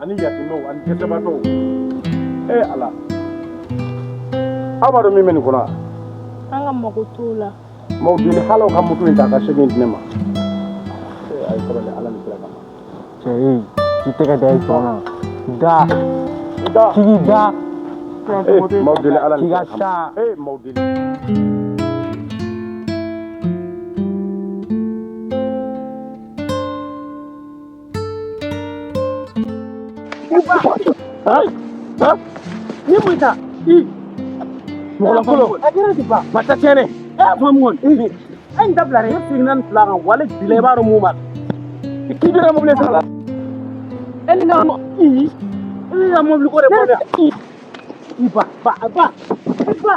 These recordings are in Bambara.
ani yatimɛw ani dɛsɛbaatɔw e ala aw b'a dɔn min bɛ nin kɔnɔ an ka mago t'o la n b'aw deli ala aw ka moto in ta ka segin di ne ma a ye sabali ala ni kira kama cɛ ye i tɛgɛ da i sɔn na da da tigi da n b'aw deli ala ni kira kama ee n b'aw deli Ni mun ta mɔgɔlakolo a kɛra ti ban ma ta tiɲɛ dɛ e y'a fɔ mun kɔni e nin dabila dɛ e seginna nin fila kan walayi bila i b'a dɔn mun b'a la k'i bɛ ka mobili sara la e ni ka mɔ i e n'i ka mobili ko de bɔ dɛ i ba ba ba ba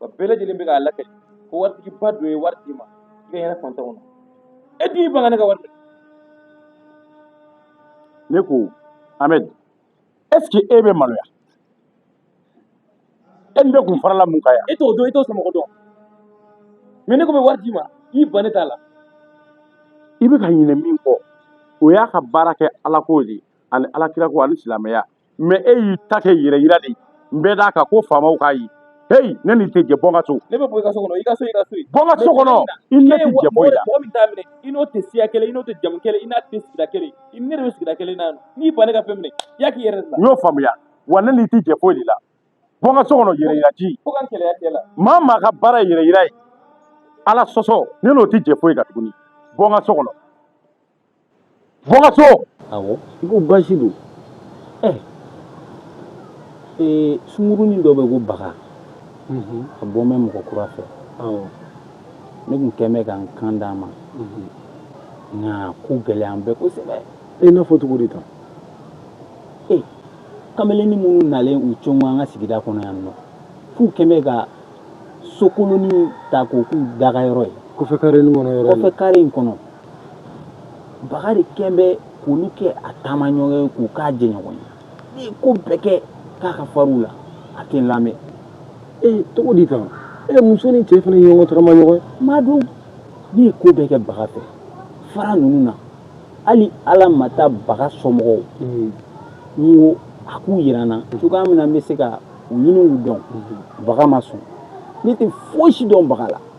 wa bɛɛ lajɛlen bɛ k'a lakali ko waritigiba dɔ ye wari d'i ma i ka yɛrɛ fantanw na e dun y'i ban ka ne ka wari minɛ ne ko ahmed est ce que e bɛ maloya e ni ne kun farala mun kan yan e t'o dɔn i t'o somɔgɔ dɔn mais ne ko n bɛ wari d'i ma i ban k'i t'a la i bɛ ka ɲinɛ min kɔ o y'a ka baara kɛ alako de ye ani alakirako ani silamɛya mais e y'i ta kɛ yɛrɛ yira de ye n bɛ d'a kan ko faamaw k'a ye heyi ne n'i tɛ jɛ bɔ n ka so ne bɛ bɔ i ka so kɔnɔ i ka so i ka so ye bɔ n ka so kɔnɔ i ni ne tɛ jɛ foyi la mɔgɔ min t'a minɛ i n'o tɛ siya kelen i n'o tɛ jamu kelen i n'a tɛ sigida kelen i ni ne de bɛ sigida kelen na yan nɔ. n'i ban ne ka fɛn minɛ i y'a k'i yɛrɛ de la i y'o faamuya wa ne n'i tɛ jɛ foyi de la bɔ n ka so kɔnɔ yɛrɛ yira ji fo ka n kɛlɛya cɛ la maa min ka baara ye yɛrɛ yira ye ala sɔsɔ ne n'o tɛ jɛ foyi kan tuguni bɔ n ka so kɔnɔ Bɔ n ka so! Awɔ, i ko basi don. Ɛ! Ee sunkurunin dɔ bɛ yen ko Baga. Unhun. A bɔn bɛ mɔgɔ kura fɛ. Awɔ. Ne tun kɛn bɛ ka n kan d'a ma. Unhun. Nka a ko gɛlɛyan bɛ kosɛbɛ. I n'a fɔ cogo di tan? Ee kamalennin minnu nalen u cogo an ka sigida kɔnɔ yan nɔ, k'u kɛn bɛ ka so kolonin ta k'o k'u dagayɔrɔ ye. Kɔfɛ kare in kɔnɔ yɔrɔ in na. Kɔfɛ kare in kɔnɔ. Baga de kɛlen bɛ k'olu kɛ a taama ɲɔgɔn ye k'u k'a jɛɲɔgɔn ye n ye ko bɛɛ kɛ k'a ka fara u la a tɛ lamɛn ee cogo di tan e muso ni cɛ fana ɲɔgɔn taama ɲɔgɔn ma dun ne ye ko bɛɛ kɛ baga fɛ fara ninnu na hali ala ma taa baga somɔgɔw n ko a k'u jira n na cogo min na n bɛ se ka ninnu dɔn baga ma sɔn ne tɛ foyisi dɔn baga la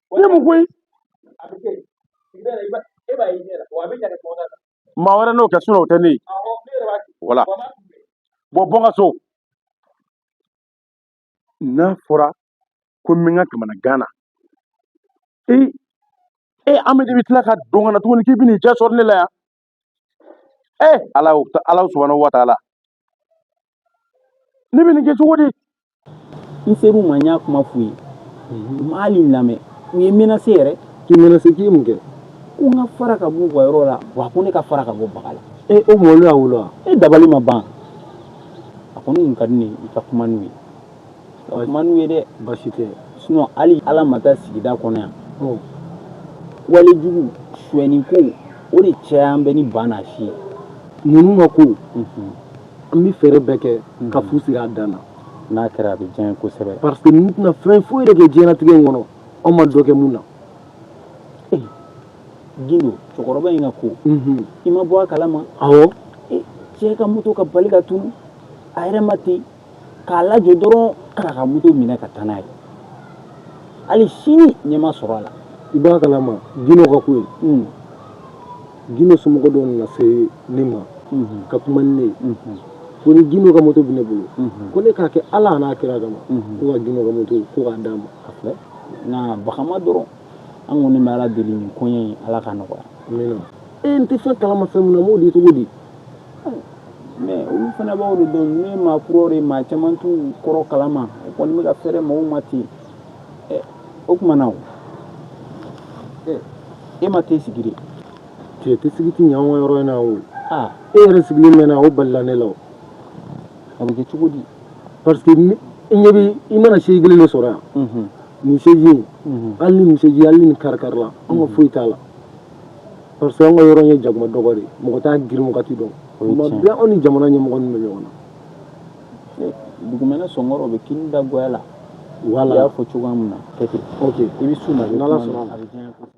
ne mun koyi maa wɛrɛ n'o kɛ sinon o tɛ ne ye wala bɔ bɔ n ka so n'a fɔra ko n bɛ n ka kamana gan na ee ee amadu bɛ tila ka don ka na tuguni k'i bɛ n'i cɛ sɔrɔ ne la yan ee ala y'o ta ala subahana wa taala ne bɛ nin kɛ cogo di n ser'u ma n y'a kuma f'u ye u ma hali n lamɛn u ye menase yɛrɛ k'i menase k'i ye mun kɛ ko n ka fara ka b'u ka yɔrɔ la wa ko ne ka fara ka bɔ baga la ee o mɔlu y'a wolo wa e dabali ma ban a kɔni tun ka di ne ye i ka kuma n'u ye man ye dɛ basi tɛ sinon hali ala ma taa sigida kɔnɔ yan walejugu sni ko o de cɛ an bɛ ni banna si ye ninnu ma ko an bɛ fɛɛrɛ bɛɛ kɛ ka fu siri a dan na n'a kɛra a bɛ diya kosɛbɛ parce que ninnu tɛna fɛn foyi yɛrɛ kɛ diɲɛnatigɛ in kɔnɔ a ma dɔ kɛ mun na gindo cɛkɔrɔba in ka ko i ma bɔ a kala ma cɛ ka moto ka bali ka tunun a yɛrɛ ma ten k'a lajɔ dɔrɔn k'a ka moto minɛ ka taa n'a ye hali sini ɲɛ ma sɔrɔ a la i b'a kalama gindo ka ko ye hmm. gindo somɔgɔ dɔ nana se ne ma hmm. ka kuma ni ne ye hmm. ko ni gindo ka moto bɛ ne bolo ko ne k'a kɛ ala n'a kira kama ko ka gindo ka moto ko k'a d'a ma a filɛ nka bagama dɔrɔn an kɔni bɛ ala deli nin koɲɛ ye ala ka nɔgɔya e n tɛ fɛn kalama fɛn min na n b'o di cogo di mais olu fana b'aw de dɔn ne maa kuraw de maa caman t'u kɔrɔ kalama o kɔni bɛ ka feere mɔgɔw ma ten o tuma na e ma t'e sigi de cɛ tɛ sigi tɛ ɲɛ anw ka yɔrɔ in na o e yɛrɛ sigilen mɛnna o balila ne la o a bɛ kɛ cogo di parce que i ɲɛ bɛ i mana sigilen de sɔrɔ yan nin sɛzi hali ni nin sɛzi hali ni kari kari la an ka foyi t'a la parce que an ka yɔrɔ ye jakuma dɔgɔ de ye mɔgɔ t'a girin wagati dɔn o tuma bɛɛ anw ni jamana ɲɛmɔgɔ ninnu bɛ ɲɔgɔn na eh, dugumɛnɛ sɔngɔrɔ bɛ kini da goya la voilà i y'a fɔ cogoya min na kɛ ten ok i bɛ s'u ma n'ala sɔnna a bɛ diya kosɛbɛ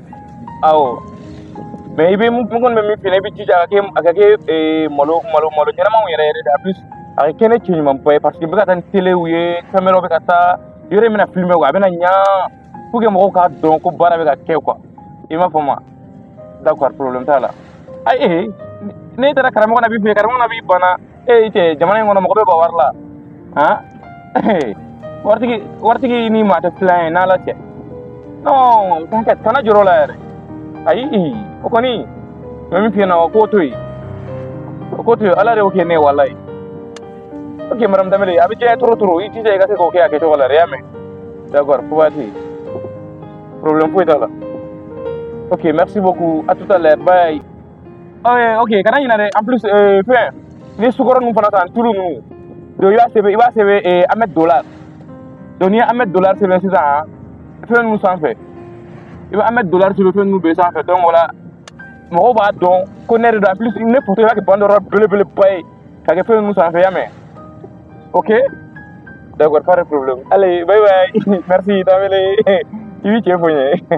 aw mais i bɛ mun kɔni bɛ min fɛ i bɛ jija a ka kɛ a ka kɛ ee, malo malo malo ɲɛnamaw yɛrɛ yɛrɛ de en plus a ka kɛ ne cɛ ɲumanba ye parce que bɛ ka taa ni telew ye fɛn wɛrɛw bɛ ka taa yɔrɔ in bɛna filime quoi a bɛna ɲa pour que mɔgɔw k'a dɔn ko baara bɛ ka kɛ quoi i m'a faamu d'accord problème t'a la ayi n'e taara karamɔgɔ na b'i fɛ karamɔgɔ na b'i bana ee i cɛ jamana in kɔnɔ mɔgɔ bɛ bɔ wari la han waritigi waritigi ni maa tɛ filan ye n'ala tɛ non kana jɔrɔ o la yɛrɛ ayi o kɔni n bɛ min f'i ɲɛna o k'o to yen o k'o to yen ala de y'o kɛ ne ye walayi ok madame danbele a bɛ diya ye trop trop i jija i ka se k'o kɛ a kɛcogo la dɛ i y'a mɛn d'accord fo waati problème foyi t'a la ok merci beaucoup à tout à l'heure bye Eh, ok kana ɲinɛ dɛ en plus eh, fɛn ni sukaro ninnu fana san tulu ninnu donc i b'a sɛbɛn i b'a sɛbɛn eh, ahmed dollar donc n'i ye ahmed dollar sɛbɛn sisan fɛn ninnu sanfɛ i bɛ ahmed dollar sɛbɛn fɛn ninnu bɛɛ sanfɛ donc o la mɔgɔw b'a dɔn ko ne de don en plus ne foto i b'a kɛ banderole belebeleba ye ka kɛ fɛn ninnu sanfɛ y'a mɛn ok d'accord pas de problème allez bye bye merci t'as wele i b'i cɛ fo n ye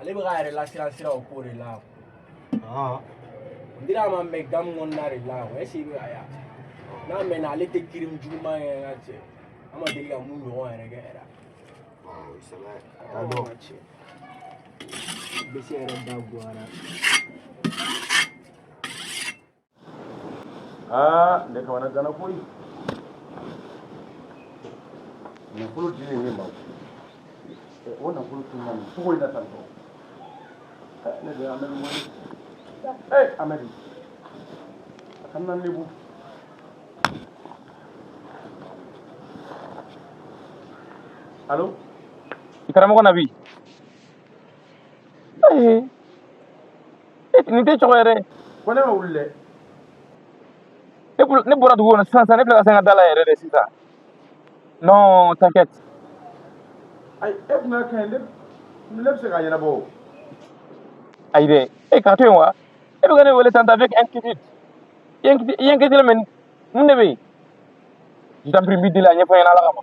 ale bɛ k'a yɛrɛ lasiran sira o ko de la n dira a ma n bɛ game kɔnɔna de la o est-ce que i bɛ a y'a n'a mɛnna ale tɛ crime juguman kɛ n ka cɛ an ma deli ka mun ɲɔgɔn yɛrɛ kɛ yɛrɛ bɛ se yɛrɛ da bɔ a la aa ne kamanaganna koyi nafolo dilen ne ma o nafolo tununna nin cogo in na tan tɔ ne de ye amadu wele ee amadu a kana n lebu alo karamɔgɔ na bi ayi nin tɛ cogo yɛrɛ ko ne ma wuli dɛ ne bɔra dugu kɔnɔ sisan sisan ne filɛ ka se n ka da la yɛrɛ de sisan non t'inquiète ayi e tun ka kɛ ne ne bɛ se k'a ɲɛnabɔ o ayi dɛ e k'a to yen wa e bɛ ka ne wele tan avec inquiétude i ye i ye inquiétude mɛ mun de bɛ yen je t'en prie n b'i deli a ɲɛfɔ n ɲɛna ala kama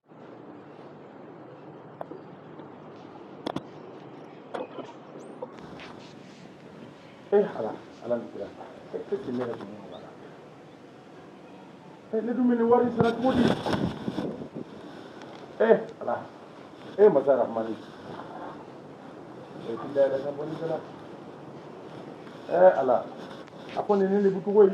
ee ala ala ni kira e e ti ne yɛrɛ tun bɛ mɔgɔ la e ne dun bɛ nin wari sara cogo di ee ala e masa rahmani e ti da yɛrɛ ka bɔ ni kɛra ee ala a ko nin ne de bɛ cogo ye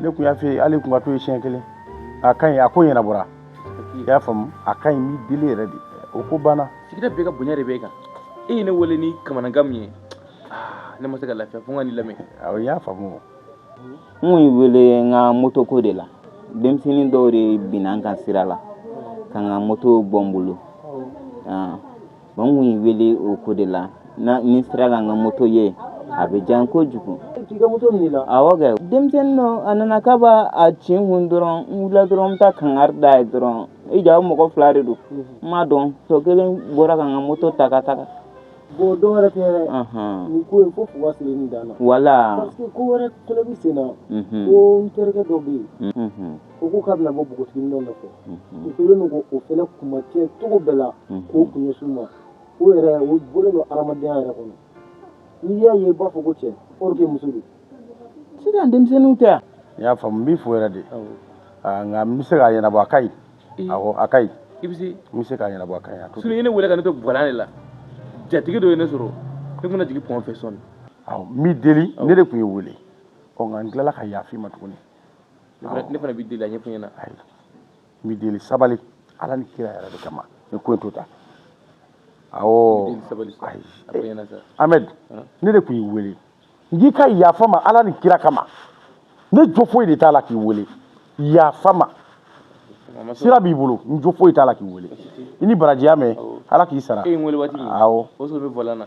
ne tun y'a fɛ hali tun ka to ye siɲɛ kelen a ka ɲi a ko ɲɛnabɔra i y'a faamu a ka ɲi n b'i deli yɛrɛ de o ko banna sigida bɛɛ ka bonya de bɛ kan e ye ne wele ni kamanagan min ye ah, ne ma se ka lafiya fo n ka n'i lamɛn awɔ n y'a faamu n y'i wele n ka moto ko de la denmisɛnnin dɔw de binna n kan sira la ka n ka moto bɔ n bolo ah. Bon n kun y'i wele o ko de la n'i sera ka n ka moto ye a bɛ diya n ye kojugu denmisɛnnin dɔ nana ka bɔ a cɛ kun dɔrɔn n wulila dɔrɔn bɛ taa kankari da a ye dɔrɔn e ja mɔgɔ fila de don n m'a dɔn tɔ kelen bɔra ka n ka moto ta ka taga bon dɔw n ko ko wala ko wɛrɛ sen ko terikɛ dɔ bɛ yen u ko k'a bɛna bɔ npogotigininw nɔfɛ u kɛlen don k'o fana kuma tiɲɛ cogo bɛɛ la k'o kun ɲɛsin u ma o yɛrɛ o bɔlen don hadamadenya yɛrɛ kɔnɔ n'i y'a ye i b'a fɔ ko cɛ or que muso don sisan denmisɛnninw tɛ yan n y'a faamu n b'i fo yɛrɛ dɛ nka n bɛ se k'a ɲɛnabɔ a ka ɲi awɔ a ka ɲi i bɛ se n bɛ se k'a ɲɛnabɔ a ka ɲi sini ye ne wele ka ne to gwalan de la jatigi dɔ ye ne sɔrɔ ne tun bɛ jigin pɔn fɛ sɔɔni awɔ n b'i deli ne de tun y'i wele ɔ nka n tilala ka yafa i ma tuguni ne fana b'i deli a ɲɛfɔ n ɲɛna ayi n b'i deli sabali ala ni kira yɛrɛ de kama ni ko in to tan awɔ deli sabali sa ayi a fɔ n ɲɛna sa ahmed ne de tun y'i wele n k'i ka yafa n ma ala ni kira kama ne jo foyi de t'a la k'i wele yafa n ma a ma sɔn sira b'i bolo n jo foyi t'a la k'i wele i ni baraji i y'a mɛn ala k'i sara e ye n wele waati min awɔ o sɔrɔ n bɛ bɔlɔn na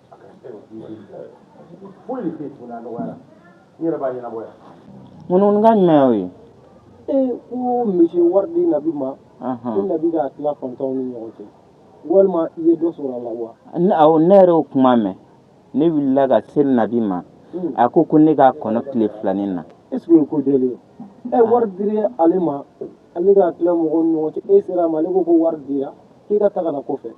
Ŋka jumɛn ye ee ko misi ye wari di Nabi ma ko Nabi k'a tila fantanw ni ɲɔgɔn cɛ walima i ye dɔ sɔrɔ la wa ne yɛrɛ o kuma mɛn ne wulila ka se Nabi ma a ko ko ne k'a kɔnɔ tile fila nin na e ko deli e wari di ale ma ale k'a tila mɔgɔ ɲɔgɔn cɛ e sera ma ale ko ko wari dira k'e ka taa ka na kɔfɛ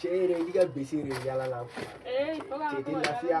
Cɛ yɛrɛ i ka bese de yala la cɛ tɛ lafiya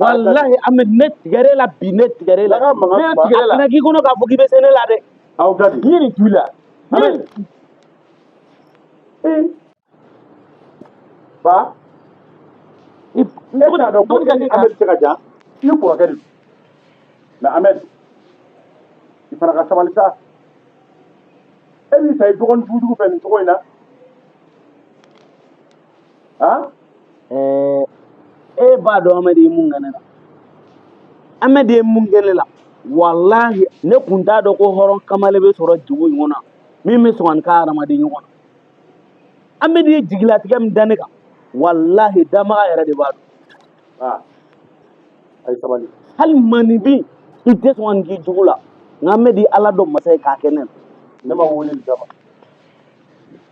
walahi amɛdi ne tigɛr'e la bi ne tigɛr'e la Daga mankan ne ba. tigɛr'e la kan'a k'i kɔnɔ k'a fɔ k'i bɛ se ne la dɛ aw ka di yiri ju la Amen. ba i ne bɛna dɔn ko Dɔnni ka e ni ni amɛdi cɛ ka jan i ye kɔrɔkɛ de don mɛ amɛdi i fana ka sabali sa e b'i ta i dɔgɔnin jugujugu fɛ nin cogo in na ah ɛɛ e b'a dɔn amɛdi ye mun kɛ ne la amɛdi ye mun kɛ ne la walahi ne tun t'a dɔn ko hɔrɔn kamale bɛ sɔrɔ dugu kɔnɔna min bɛ sɔn ka nin k'a hadamaden ɲɔgɔn na amɛdi ye jigilatigɛ min da ne kan walahi danbaga yɛrɛ de b'a dɔn ah ayi sabali hali maaninfin i tɛ sɔn ka nin k'i jugu la nka amɛdi ala dɔn masa ye k'a kɛ ne na ne ma wele nin kama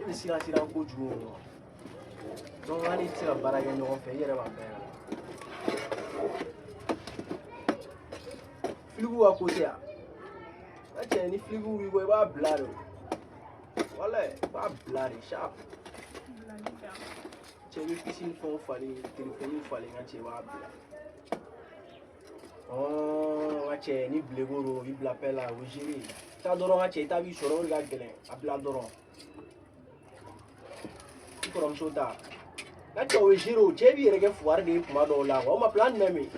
e bɛ siran siran kojugu o ma donc an tɛ se ka baara kɛ ɲɔgɔn fɛ i yɛrɛ b'a bɛɛ flic ka côté yan a cɛ ni flic b'i kɔ i b'a bila de wala i b'a bila de sharp cɛ i bɛ business fɛnw falen telefɔni falen a cɛ i b'a bila ɔ ka cɛ ni bileko don o b'i bila pɛ la o ye ziri ye taa dɔrɔn ka cɛ i ta b'i sɔrɔ o de ka gɛlɛn a bila dɔrɔn i kɔrɔmuso ta ka cɛ o ye ziri o cɛ b'i yɛrɛ kɛ fugari de ye kuma dɔw la o ma plan jumɛn bɛ yen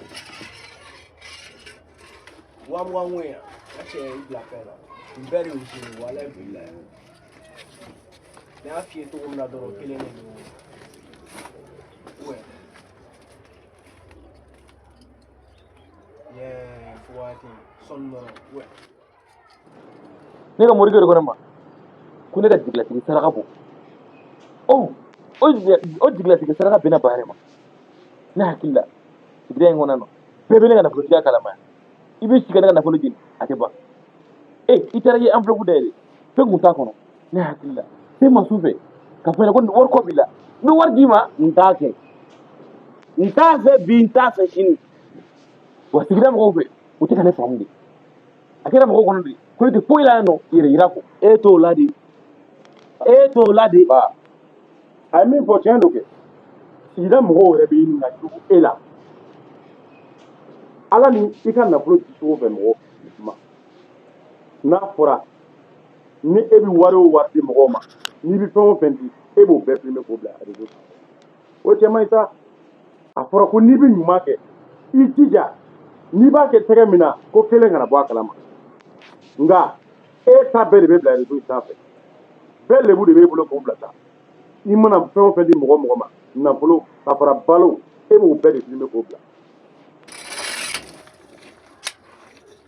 wa mugan ko in yan ka cɛ i bila pɛ la nin bɛɛ de ye ziri ye wala i b'i la yan ne y'a f'i ye cogo min na dɔrɔn o kelen de don ne ka morikɛ de ko ne ma ko ne ka jigilatigɛ saraka bɔ o o jigilatigɛ saraka bɛnna Ba de ma ne hakili la sigida in kɔnɔna na bɛɛ bɛ ne ka nafolotigiya kalama yan i bɛ si ka ne ka nafolo jeni a tɛ ban e i taara i ye enveloppe dayɛlɛ fɛn kun t'a kɔnɔ ne hakili la se ma su fɛ k'a fɔ ko wari ko b'i la n bɛ wari d'i ma n t'a kɛ n t'a fɛ bi n t'a fɛ sini wa sigida mɔgɔw fɛ u tɛ ka ne faamu de a kɛra mɔgɔw kɔnɔ de ko ne tɛ foyi la yan n yɛrɛ yira kɔ e t'o la de e t'o la de ba a ye min fɔ tiɲɛ don kɛ sigida mɔgɔw yɛrɛ bɛ ɲininka jugu e la ala ni i ka nafolo di cogo bɛ mɔgɔ ma n'a fɔra ni e bɛ wari o wari di mɔgɔw ma n'i bɛ fɛn o fɛn di e b'o bɛɛ filmer k'o bila réseau kan o cɛ man ɲi sa a fɔra ko n'i bɛ ɲuman kɛ i jija n'i b'a kɛ tɛgɛ min na ko kelen kana bɔ a kalama nka e ta bɛɛ de bɛ bila réseau sanfɛ bɛɛ lebu de b'e bolo k'o bila sa i mana fɛn o fɛn di mɔgɔ mɔgɔ ma nafolo ka fara balo e b'o bɛɛ de filmer k'o bila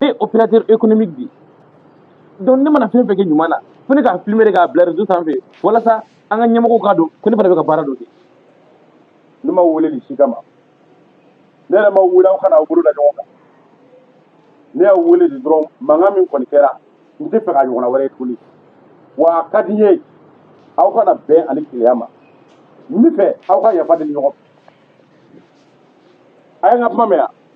ne opérateur économique de ye donc ne mana fɛn fɛn kɛ ɲuman na fo ne k'a filmer de k'a bila réseau sanfɛ walasa an ka ɲɛmɔgɔw k'a dɔn ko ne fana bɛ ka baara dɔ kɛ ne m'aw wele nin si kama ne yɛrɛ m'aw wele aw ka na aw bolo da ɲɔgɔn kan ne y'aw wele de dɔrɔn mankan min kɔni kɛra n tɛ fɛ k'a ɲɔgɔnna wɛrɛ ye tuguni wa a ka di n ye aw ka na bɛn ani kelenya ma n bɛ fɛ aw ka yafa deli ɲɔgɔn fɛ a ye n ka kuma mɛn yan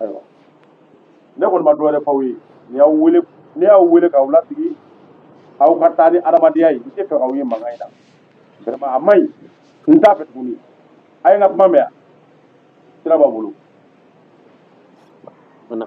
ayiwa ne kɔni ma dɔ wɛrɛ f'aw ye ne y'aw wele ne y'aw wele k'aw lasigi aw ka taa ni adamadenya ye n tɛ fɛ k'aw ye mankan in na vraiment a man ɲi n t'a fɛ tuguni a ye n ka kuma mɛn yan sira b'aw bolo Mana.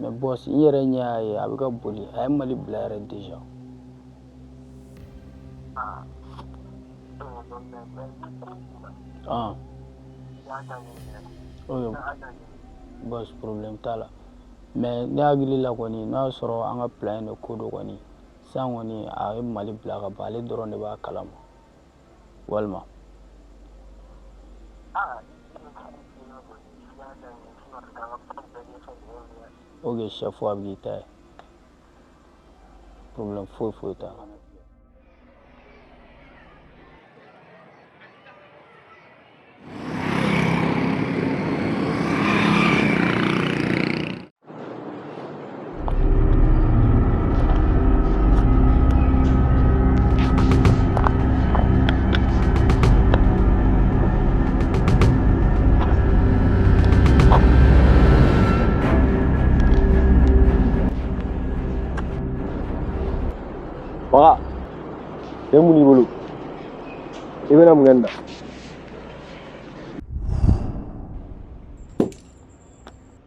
mais boss n yɛrɛ ɲɛ y'a ye a bɛ ka boli a ye mali bila yɛrɛ déjà ah. okay. boss problème t'a la mais ne hakili la kɔni n'a y'a sɔrɔ an ka plan de ko don kɔni sisan kɔni a ye mali bila ka ban ale dɔrɔn de b'a kalama walima o kɛ sa fo a bɛ k'i ta ye problème foyi foyi t'a la Baka, yan muni bolo. Iba na maganda.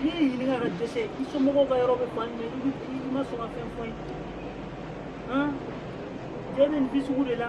n y'i ɲininka ka dɛsɛ i somɔgɔw ka yɔrɔ bɛ fan jumɛn i bɛ i ma sɔn ka fɛn fɔ n ye han jɛ bɛ nin bi sugu de la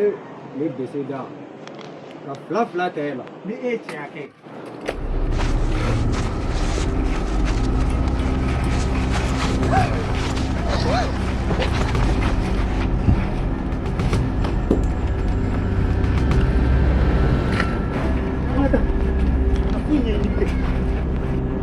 e ne dɛsɛra ka fila fila ta e la ni e ye tiɲɛ kɛ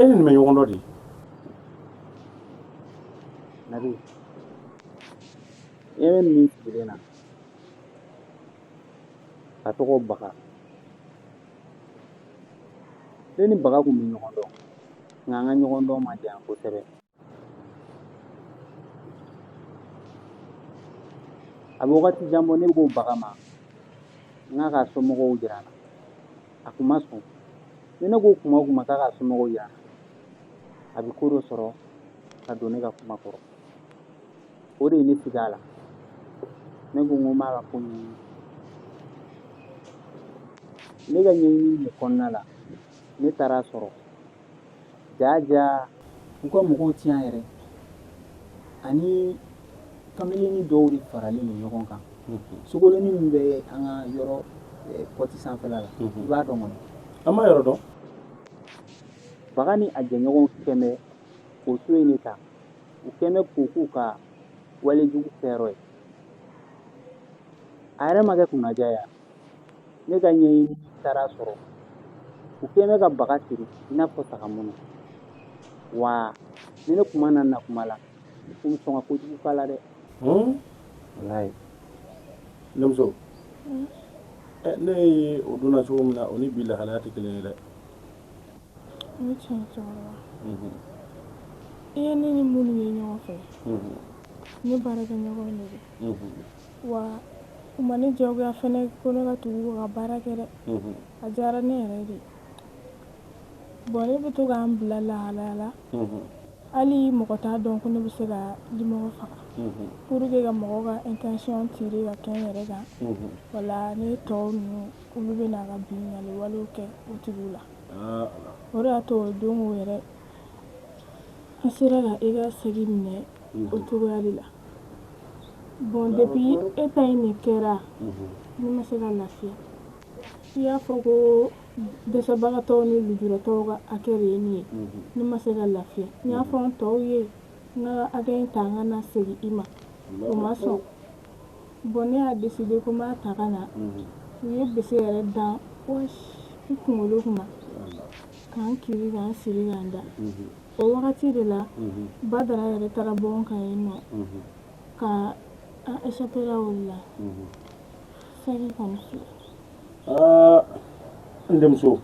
e ni nin bɛ ɲɔgɔn dɔn di nabi e bɛ min sigilen na a tɔgɔ baga ne ni baga tun bɛ ɲɔgɔn dɔn nka an ka ɲɔgɔn dɔn ma diya kosɛbɛ A bɛ wagati jan bɔ ne ko baga ma n k'a k'a somɔgɔw jira n na a kun ma sɔn ni ne ko kuma o kuma k'a k'a somɔgɔw jira n na a bɛ ko dɔ sɔrɔ ka don ne ka kuma kɔrɔ o de ye ne siga a la ne ko n ko n b'a ka ko ɲɛɲini ne ka ɲɛɲini de kɔnɔna la ne taara sɔrɔ Jaaja u ka mɔgɔw tɛ yan yɛrɛ a ni kamalennin dɔw de faralen don ɲɔgɔn kan sokolonnin min bɛ an ka yɔrɔ côté sanfɛla la i b'a dɔn kɔnɔ an ma yɔrɔ dɔn baga ni a jɛɲɔgɔn kun bɛ o so in de ta u kun bɛ k'o k'u ka walejugu kɛyɔrɔ ye a yɛrɛ ma kɛ kunnaja ye ne ka ɲɛɲini taara sɔrɔ u kɛlen bɛ ka baga siri i n'a fɔ saga mɔnɔ wa ni ne tun ma na na kuma la u bɛ sɔn ka kojugu k'a la dɛ walayi ne muso ɛ ne ye o donna cogo min na o ni bi lahalaya tɛ kelen ye dɛ o ye tiɲɛ ye cɛkɔrɔba i ye ne ni minnu ye ɲɔgɔn fɛ ne baarakɛɲɔgɔn de don wa u ma ne diyagoya fana ko ne ka tugu u ka baara kɛ dɛ, unhun, a diyara ne yɛrɛ de ye bon ne bɛ to ka n bila lahalaya la, unhun, hali mɔgɔ t'a dɔn ko ne bɛ se ka dimɔgɔ faga, unhun, pour que ka mɔgɔw ka intention tirer ka kɛ n yɛrɛ kan, unhun, o la ne tɔw ninnu olu bɛ na ka binkanni walew kɛ o tigiw la, ah, o de y'a to o don o yɛrɛ n sera ka i ka saki minɛ o cogoya de la bon depuis e ta in nin kɛra ne ma se ka lafiya i y'a fɔ ko dɛsɛbagatɔw ni lujuratɔw ka hakɛ de ye nin ye ne ma se ka lafiya n y'a fɔ n tɔw ye n ka hakɛ in ta n ka na segin i ma u ma sɔn bon ne y'a décidé ko n b'a ta ka na u ye bese yɛrɛ dan bɔsi n kunkolo kunna ka n kirin ka n siri ka n da o wagati de la Badara yɛrɛ taara bɔ n kan yen nɔ ka epla wili la fɛn ka n denmuso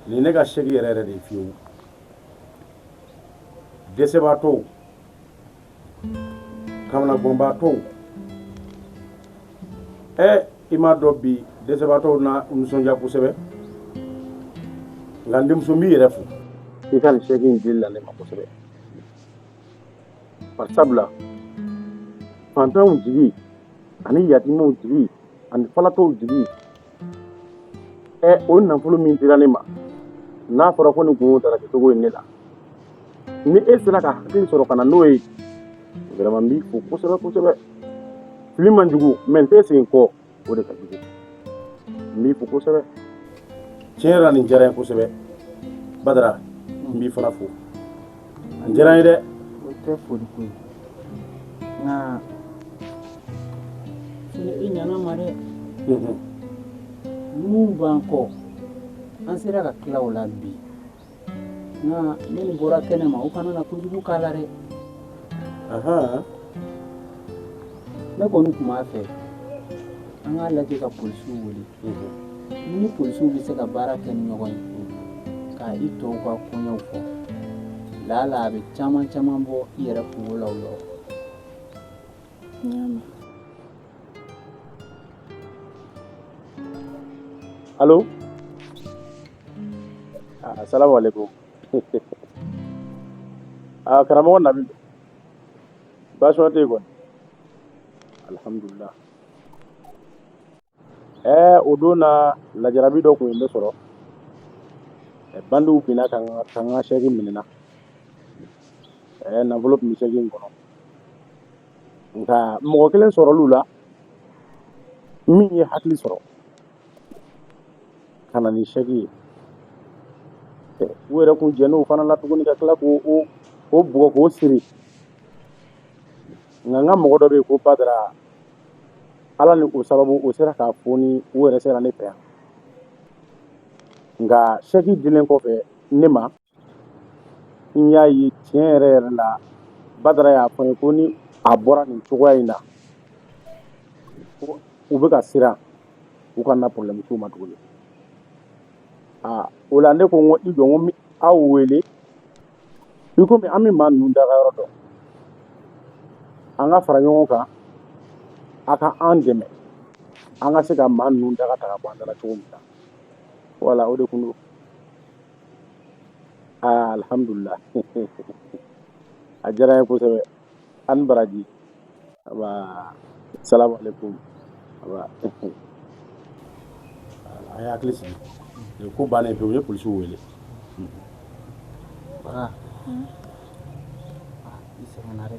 nin ne ka saki yɛrɛ yɛrɛ de fiyewu dɛsɛbaatɔw kamanaganbaatɔw ɛ i m'a dɔn bi dɛsɛbaatɔw na nisɔndiya kosɛbɛ n ka denmuso n b'i yɛrɛ fo i ka saki in dili la ne ma kosɛbɛ bari sabula fantanw jigi ani yatimaw jigi ani falatɔw jigi O nafolo min dira ne ma n'a fɔra ko nin tun taara kɛcogo ye ne la ni e sera ka hakili sɔrɔ ka na n'o ye vraiment n b'i fo kosɛbɛ kosɛbɛ fili man jugu mais n tɛ segin kɔ o de ka jugu n b'i fo kosɛbɛ tiɲɛ yɛrɛ la nin diyara n ye kosɛbɛ Badara n b'i fana fo An jɛra a ye dɛ o tɛ foli ko ye nka i ɲanama dɛ ninnu b'an kɔ an sera ka tila u la bi nka ni nin bɔra kɛnɛ ma u kana na kojugu k'a la dɛ ne kɔni tun b'a fɛ an k'a lajɛ ka polisiw wele ni polisiw bɛ se ka baara kɛ ni ɲɔgɔn ye ka i tɔw ka koɲɛw fɔ laala a bɛ caman caman bɔ i yɛrɛ kunko la o yɔrɔ alo asalamu aleykum aa karamɔgɔ nabi baasi tɛ yen kɔni alihamudulila Ɛɛ o don na lajarabi dɔ tun ye ne sɔrɔ bandiw binna n kan n ka sɛki minɛna ɛɛ nafolo tun bɛ sɛki in kɔnɔ nka mɔgɔ kelen sɔrɔla u la min ye hakili sɔrɔ ka na ni sɛki ye u yɛrɛ tun jɛna o fana na tuguni ka tila k'o o bugɔ k'o siri nka n ka mɔgɔ dɔ bɛ yen ko Badara ala ni o sababu o sera k'a foni o yɛrɛ sera ne fɛ yan nka sɛki dilen kɔfɛ ne ma n y'a ye tiɲɛ yɛrɛ yɛrɛ la badara y'a fɔ n ye ko ni a bɔra nin cogoya in na ko u bɛ ka siran u kana problème s'o ma tuguni aa o la ne ko n ko i jɔ n ko n bɛ aw wele I komi an bɛ maa ninnu dagayɔrɔ dɔn an ka fara ɲɔgɔn kan a ka an dɛmɛ an ka se ka maa ninnu daga ta ka bɔ an da la cogo min na wala o de tun don aa alihamdulila a diyara n ye kosɛbɛ An baraji asalamu aleykum a ye hakili sigi nin ko bannen pe u ye polisi wele bara i sɛgɛnna dɛ